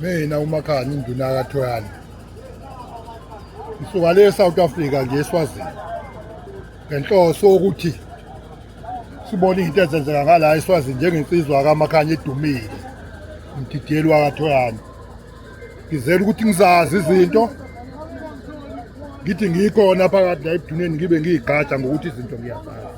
mina umakhani induna kathoyana ngisuka le south africa nje eswazini ngenhloso ukuthi sibone into ezenzeka ngala eswazini njengensizwa kamakhanya edumile umdidiyeli wakathoyana ngizela ukuthi ngizazi izinto ngithi ngikhona phakathi la ebuduneni ngibe ngiyigqaja ngokuthi izinto ngiyazazi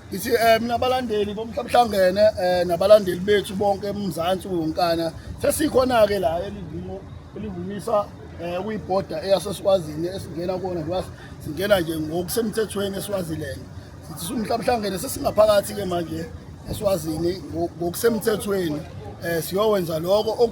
Ngithi eh mina abalandeli bomhlabuhlangene eh nabalandeli bethu bonke eMzansi wonkana sesikhona ke la elivumo elivumisa eh kuyibhoda eyaseSwazini esingena kona ngoba singena nje ngokusemthethweni eSwaziland sithi sumhlabuhlangene sesingaphakathi ke manje eSwazini ngokusemthethweni eh siyowenza lokho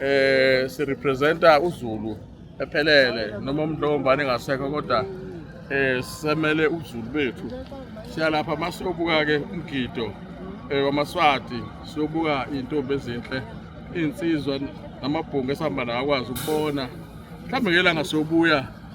eh sirepresenta uZulu ephelele noma umuntu lombane ngasekho kodwa eh semele uZulu bethu siyalapha masobuka ke umgido eh wamaswati sobuka intombi ezinhle insizwa namabhungu esihamba nawo akwazi ukubona mhlawumbe ngelanga sobuya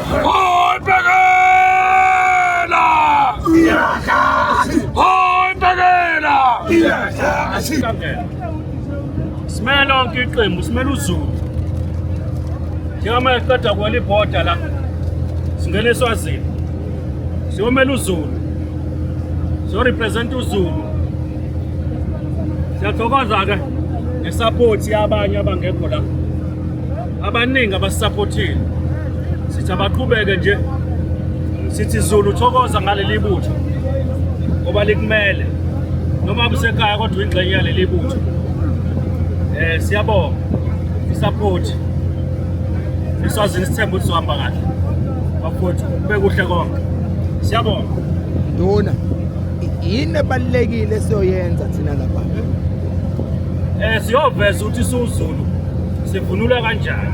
Hoy Pegela! Hoy Pegela! Simele lonke iqembu, simele uZulu. Njengamanje siqeda kwela ibhoda la. Singena eSwazini. Siyomela uZulu. Siyorepresent uZulu. Siyathokoza-ke ngesaphothi yabanye abangekho la. abaningi abasisaphothile sithi abaqhubeke nje sithi Zulu thokoza ngaleli butho ngoba likumele noma kusekhaya kodwa ingxenye yaleli butho eh siyabonga isupport isazini sithemba ukuthi sohamba kahle bafowethu kube kuhle konke siyabonga nduna yini ebalulekile siyoyenza thina lapha eh siyoveza ukuthi siwuzulu sivunula kanjani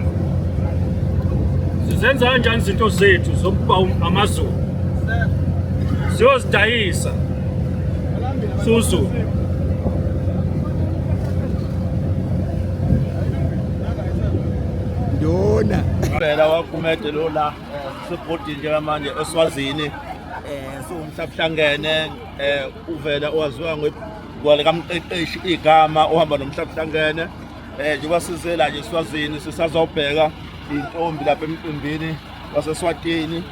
sizenza kanjani izinto zethu zokuba amazulu siyozidayisa suzulu ndona phela wagumede lo la sebhodini njengamanje eswazini um siwumhlabuhlangene um uvela owaziwa ngwale kamqeqeshi igama ohamba nomhlabuhlangene Eh njengoba sizela nje siwazini sisazobheka intombi lapha emcimbini waseSwatini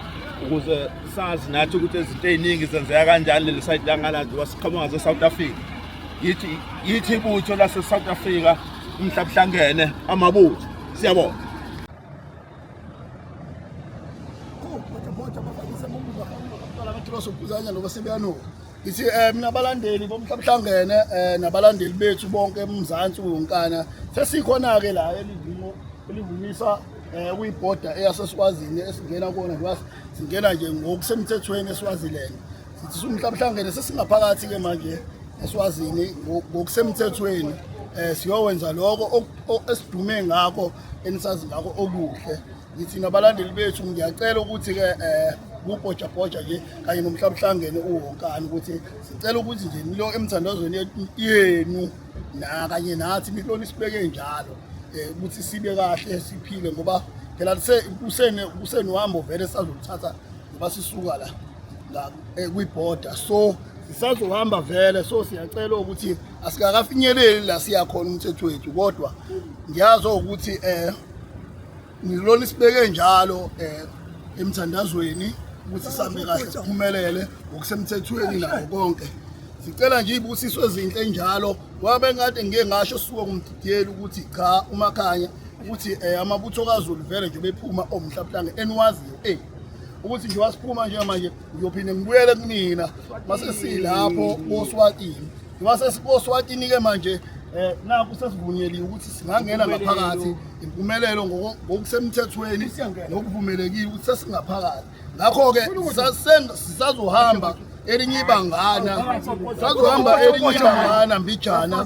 ukuze sazi nathi ukuthi izinto eziningi zenzeka kanjani leli side langala nje wasiqhamuka ze-South Africa yithi yithi ibutho lase-South Africa umhlabuhlangene amabutho siyabona ngithi um eh, mina balandeli bomhlabuhlangene um eh, nabalandeli bethu bonke emzansi wonkana sesikhona-ke la elivimo elivumisa um eh, kuyibhoda eyasesikwazini esingena kona ngoba singena nje ngokusemthethweni esiwaziland sithi sumhlabuhlangene sesingaphakathi-ke manje esiwazini ngokusemthethweni um siyowenza lokho esidume ngakho enisazi ngakho okuhle ngithi nabalandeli bethu ngiyacela ukuthi-ke um eh, kubhojabhoja nje kanye nomhlabuhlangene uwonkani ukuthi sicela ukuthi nje nilo emthandazweni yenu nakanye nathi nihloni sibeke njalo um ukuthi sibe kahle siphile ngoba phela kusenohambo vele sazoluthatha ngoba sisuka la eh, kwibhoda so sisazohamba vele so siyacela ukuthi asikakafinyeleli la siya khona umthetho wethu kodwa ngiyazi ukuthi eh ngilona isibeke njalo eh emthandazweni ukuthi sambe kahle siphumelele ngokusemthethweni nako konke sicela nje ibusiso ezinhle njalo wabe ngathi ngeke ngasho suka kumdidiyeli ukuthi cha umakhanya ukuthi eh amabutho kaZulu vele nje bephuma omhlabuhlanga eniwaziyo eh ukuthi nje wasiphuma nje manje ngiyophinde ngibuyele kunina mase silapho koswatini ngoba sesikoswatini-ke manje um nakho sesivunyeliwe ukuthi singangena ngaphakathi impumelelo ngokusemthethweni nokuvumelekile ukuthi sesingaphakathi ngakho-ke sisazohamba elinye ibangana sazohamba elinye ibangana mbijana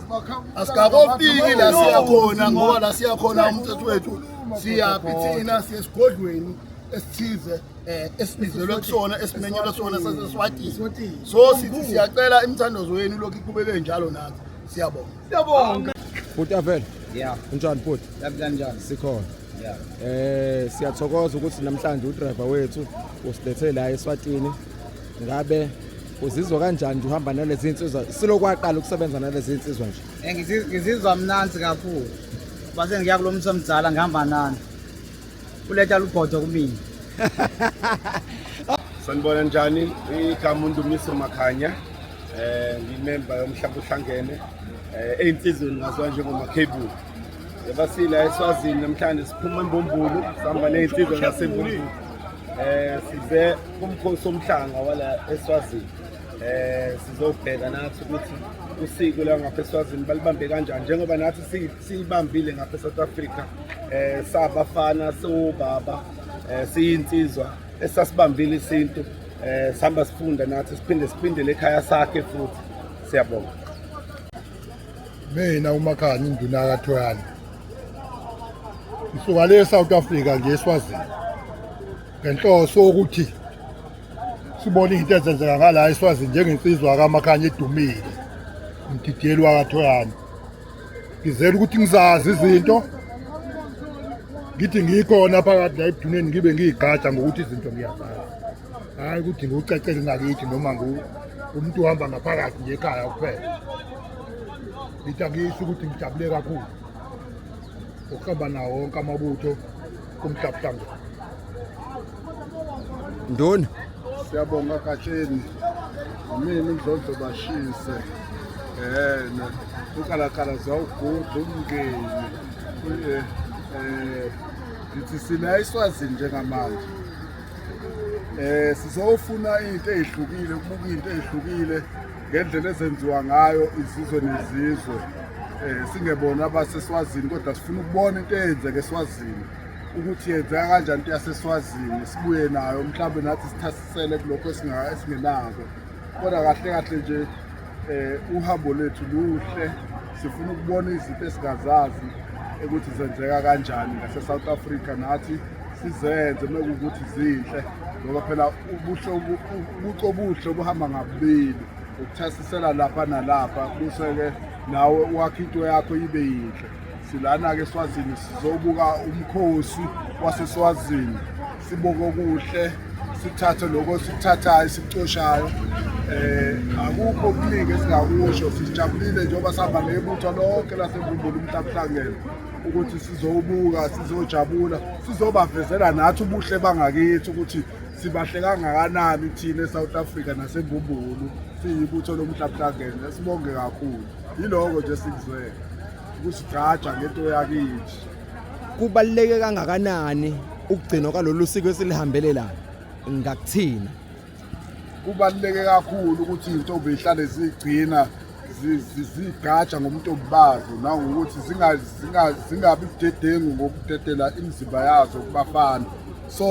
asikakofiki la siyakhona ngoba la siyakhona umthetho wethu siyaphi thina siye esigodlweni esithize eh esibizelwe kusona esimenyelwe sona saseswatini so sithi siyacela imithandazo yenu lokhu iqhubeke njalo nathi siyabonga siyabonga futhi avela yeah unjani futhi kanjani sikhona yeah eh siyathokoza ukuthi namhlanje udriver wethu usilethe la eswatini ngabe uzizwa kanjani nje uhamba nalezi insizwa silokwaqala ukusebenza nalezi insizwa nje eh, ngizizwa mnanzi kakhulu base ngiya kulomsomdala ngihamba nani uletha lubhodo kumina sanibona njani igama undumiso makhanya eh ngimemba yomhlaba uhlangene eh eyinsizweni ngazwa njengoma cable ebasila eswazini namhlanje siphuma embumbulu sihamba nezinsizwa zasembumbulu eh size kumkhosi omhlanga wala eswazini eh sizobheka nathi ukuthi usiko la ngapha eswazini balibambe kanjani njengoba nathi Siyibambile ngapha eSouth Africa eh sabafana sobaba eh siyinsizwa esasibambile isintu eh sihamba sifunda nathi siphinde siphindele ekhaya sakhe futhi siyabonga mina umakhanya induna yakathoyana ngisuka le South Africa nje eswazini ngenhloso ukuthi sibone into ezenzeka ngala eswazini njengensizwa kamakhanya edumile umdidiyeli wakathoyana ngizela ukuthi ngizazi izinto ngithi ngikhona phakathi la ebuduneni ngibe ngiyigada ngokuthi izinto ngiyazazi hhayi ukuthi ngiwucacele ngakithi noma umuntu uhamba ngaphakathi nje ekhaya kuphela ngithi angiyisho ukuthi ngijabule kakhulu ukuhamba nawo wonke amabutho kumhlabhlanga ndoni siyabonga gatsheni mina umdlondlo bashise yena ukalakala zawuguda umngeni eh, eh, ngithi sina iswazini njengamanje um sizofuna into eyihlukile ukubuka into eyihlukile ngendlela ezenziwa ngayo izizwe nezizwe eh singebona abaseswazini kodwa sifuna ukubona into eyenzeke eswazini ukuthi yenzeka kanjani into yaseswazini sibuye nayo mhlawumbe nathi sithasisele kulokho esingenako kodwa kahle kahle nje eh uhambo lethu luhle sifuna ukubona izinto esingazazi ukuthi zenzeka kanjani ngase-south africa nathi sizenze mekuwukuthi zinhle ngoba phela ubuhle ubuco obuhle obuhamba ngabubili ukuthasisela lapha nalapha buse-ke nawe wakhe into yakho ibe yinhle silana-ke eswazini sizobuka umkhosi waseswazini sibuke okuhle sithathe lokho sikuthathayo sikucoshayo eh akukho okuningi esingakusho sijabulile njengoba sihamba nebutho lonke lasembumbulu umntabuhlangene ukuthi sizowubuka sizojabula sizobavezela nathi ubuhle bangakithi ukuthi sibahle kangakanani thina eSouth Africa naseMbumbulu siyibutho lomhlabhlangene sibonge kakhulu yiloko nje sikuzwele ukusigqaja ngento yakithi kubaluleke kangakanani ukugcinwa kwalolu siko esilihambelelayo ngakuthina kubaluleke kakhulu ukuthi iy'ntombi zihlale zigcina zigatsha ngobuntombi bazo nangokuthi zingabi budedengu ngokudedela imizimba yazo kubafana so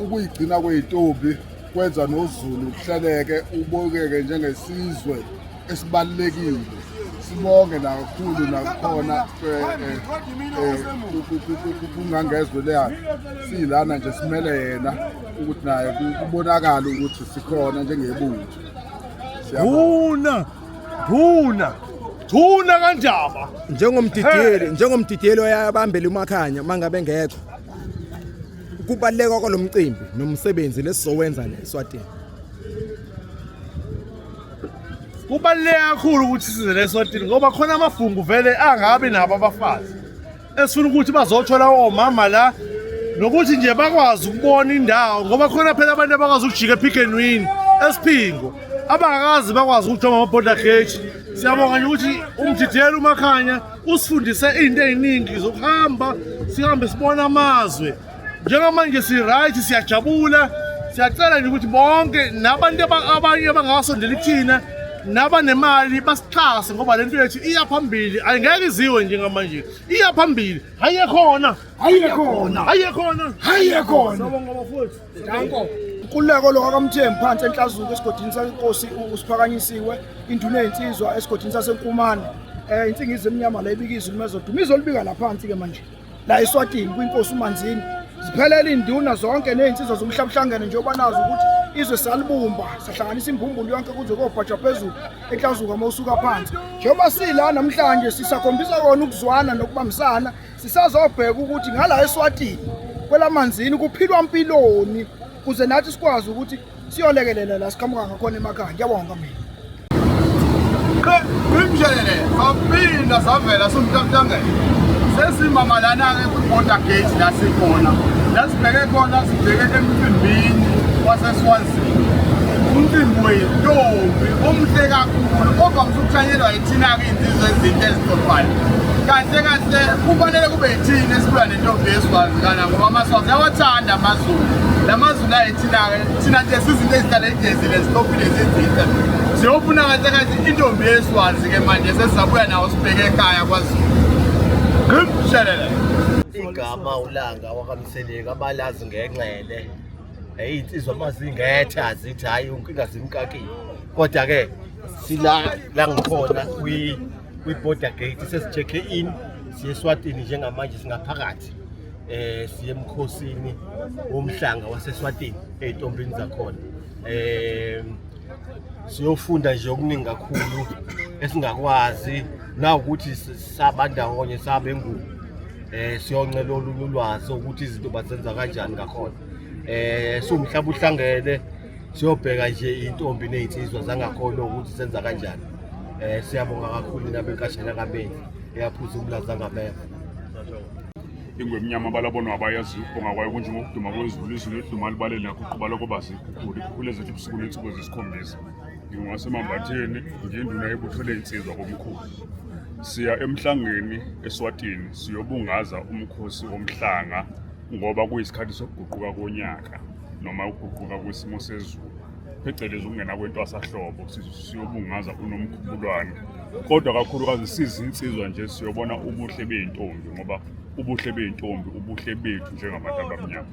ukuyigcina kwey'ntombi kwenza nozulu kuhleleke ubukeke njengesizwe esibalulekile sibonge nakakhulu nakukhona kungangezwe leyana siyilana nje simele yena ukuthi naye kubonakala ukuthi sikhona njengebutho Siyabona. Thuna. Thuna. Thuna kanjaba. njengomdidiyeli njengomdidiyeli oyabambela umakhanya mangabe ngekho kubaleka kwalomcimbi nomsebenzi lesizowenza la eSwatini Kubaluleke kakhulu ukuthi size leswatini ngoba khona amafungu vele angabi nabo abafazi. esifuna ukuthi bazothola omama la nokuthi nje bakwazi ukubona indawo ngoba khona phela abantu abakwazi ukujika epick and win esiphingo abangakazi bakwazi ukujoma ama-border gate siyabonga nje ukuthi umdidiyela umakhanya usifundise izinto ey'ningi zokuhamba sihambe sibona amazwe Njengamanje si-right siyajabula siyacela nje ukuthi bonke nabantu abanye abangasondeli kuthina nabanemali basixhase ngoba le nto yethu iya phambili ayingeke iziwe njengamanje iya phambili haye khona haye khona haye khona haye khona sabonga bafowethu danko Kululeko lo kaMthembu phansi enhlazuko esigodini sasenkosi usiphakanyisiwe induna yezinsizwa esigodini sasenkumane eh insingizi emnyama la ibika izulu mezoduma izolibika laphansi ke manje la eSwatini kwinkosi uManzini ziphelele induna zonke nezinsizwa zomhlabuhlangene njengoba nazi ukuthi izwe salibumba sahlanganisa imbumbulu yonke kuze kobhajwa phezulu eklazuka uma usuka phansi njengoba sila namhlanje sisakhombisa kona ukuzwana nokubambisana sisazobheka ukuthi ngala eSwatini kwelamanzini kuphilwa mpiloni kuze nathi sikwazi ukuthi siyolekelela la siqhamuka ngakhona emakhaya ngiyabonga mina ngimshelele saphinda savela somtantangela sesimama lana-ke kwi-border gate la sikhona la sibheke khona sibheke emcimbini waseswazini umcimbi wentombi omuhle kakhulu kodwa msukuthanyelwa yithina-ke iy'nsizo ezinto ezixoxwayo kahle kahle kufanele kube yithini esibuya nentombi yeswazi kana ngoba amaswazi yawathanda amazulu la mazulu thina-ke thina nje sizinto ezihlala igezile zitophile zizinhle siyofuna kahle kathi intombi yeswazi-ke manje sesizabuya nawo sibheke ekhaya kwazulu ngimshelele igama ulanga wakamseleki abalazi ngenxele eyi insizwa mazingethe azithi hhayi unkinga zimkakile kodwa-ke sila la ngikhona kwi-border gate sesijekhe in siye eswatini njengamanje singaphakathi eh siye emkhosini womhlanga waseSwatini ezintombini zakhona eh siyofunda nje okuningi kakhulu esingakwazi na ukuthi saba ndawonye sabe ngubo eh siyoncela olunye ulwazi ukuthi izinto bazenza kanjani ngakhona eh siwumhlaba uhlangene siyobheka nje intombi nezinsizwa zangakhona ukuthi senza kanjani eh siyabonga kakhulu nabenkashana kabenzi eyaphuza umlaza ngameva ingwemnyama balabonwa abayazi ukubonga kwayo kunje ngokuduma kwezulu izulu eduma libalele nakho uqubala koba zikhukhule ikhukhule zethu ubusuku nensuku ezisikhombisa ngingowasemambatheni ngiyinduna yebutho ley'nsizwa komkhulu siya emhlangeni eswatini siyobungaza umkhosi womhlanga ngoba kuyisikhathi sokuguquka konyaka noma ukuguquka kwesimo sezulu phecelezi ukungena kwentwasahlobo siyobungaza unomkhubulwane kodwa kakhulukazi siza insizwa nje siyobona ubuhle bey'ntombi ngoba ubuhle bey'ntombi ubuhle bethu njengabantu abamnyama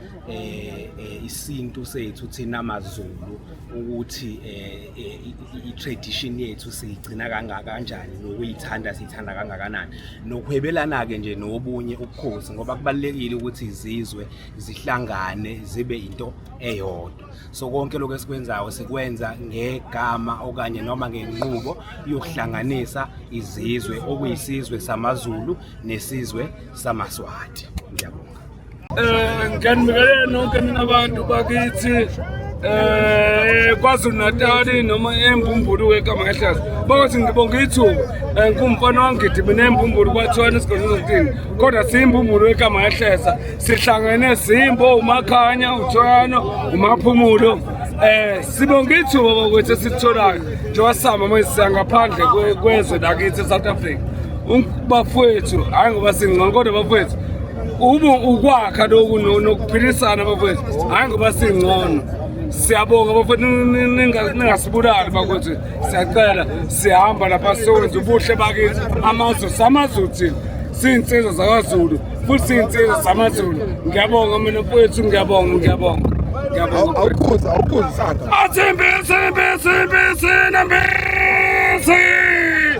eh, eh isintu sethu thina maZulu ukuthi eh, eh i-tradition yethu siyigcina kangaka kanjani nokuyithanda siyithanda kangakanani nokuhwebelana ke nje nobunye ubukhosi ngoba kubalekile ukuthi izizwe zihlangane zibe into eyodwa so konke lokho esikwenzayo sikwenza ngegama okanye noma ngenqubo yokuhlanganisa izizwe okuyisizwe samaZulu nesizwe samaSwati ngiyabonga um ngiyanibingelela nonke nina bantu bakithi eh kwaZulu Natali noma embumbulu wegama kahlaza bathi ngibonga ithuba eh, ngumfana wangidi mina embumbulu kwathwana isigodlo zokutini kodwa simbumbulu wegama kahlaza sihlangene simbo umakhanya uthwano umaphumulo eh sibonga ithuba bakwethu esitholayo njengoba sihamba manje siyangaphandle kwezwe lakithi eSouth Africa bafowethu hayi ngoba singcono kodwa bafowethu Uma ukwakha lokhu nokuphilisana bafowethu hhayi ngoba singcono siyabonga bafowethu ningasibulali bakuthi siyacela sihamba lapha siyowenza ubuhle bakithi amazwe samazulu thina siyinsizwa zakazulu futhi siyinsizwa zamazulu ngiyabonga mina mfowethu ngiyabonga ngiyabonga ngiyabonga awukhuza awukhuza isandla athimbi isimbi isimbi isinambi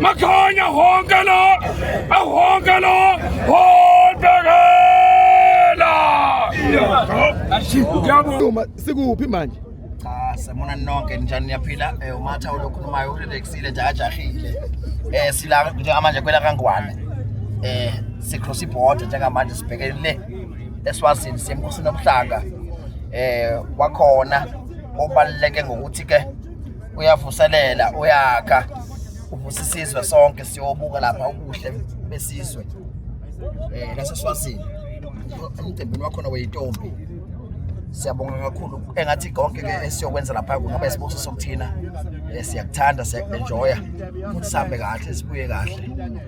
Makhanya honke lo ahonke lo hobhekela Ngiyabonga sikuphi manje cha semona nonke njani niyaphila eh umatha ulokhulumayo uleksile nje ajahile eh sila njengamanje kwela kangwane eh sicross iborder njengamanje sibhekene le eswazini semkhosini omhlanga eh kwakhona obaluleke ngokuthi ke uyavuselela uyakha uvusa isizwe sonke siyobuka lapha ubuhle besizwe eh naseswazini umcimbini wakhona weyintombi siyabonga kakhulu engathi konke ke esiyokwenza lapha kungaba isibuso sokuthina eh, siyakuthanda siyakuenjoya futhi sihambe kahle sibuye kahle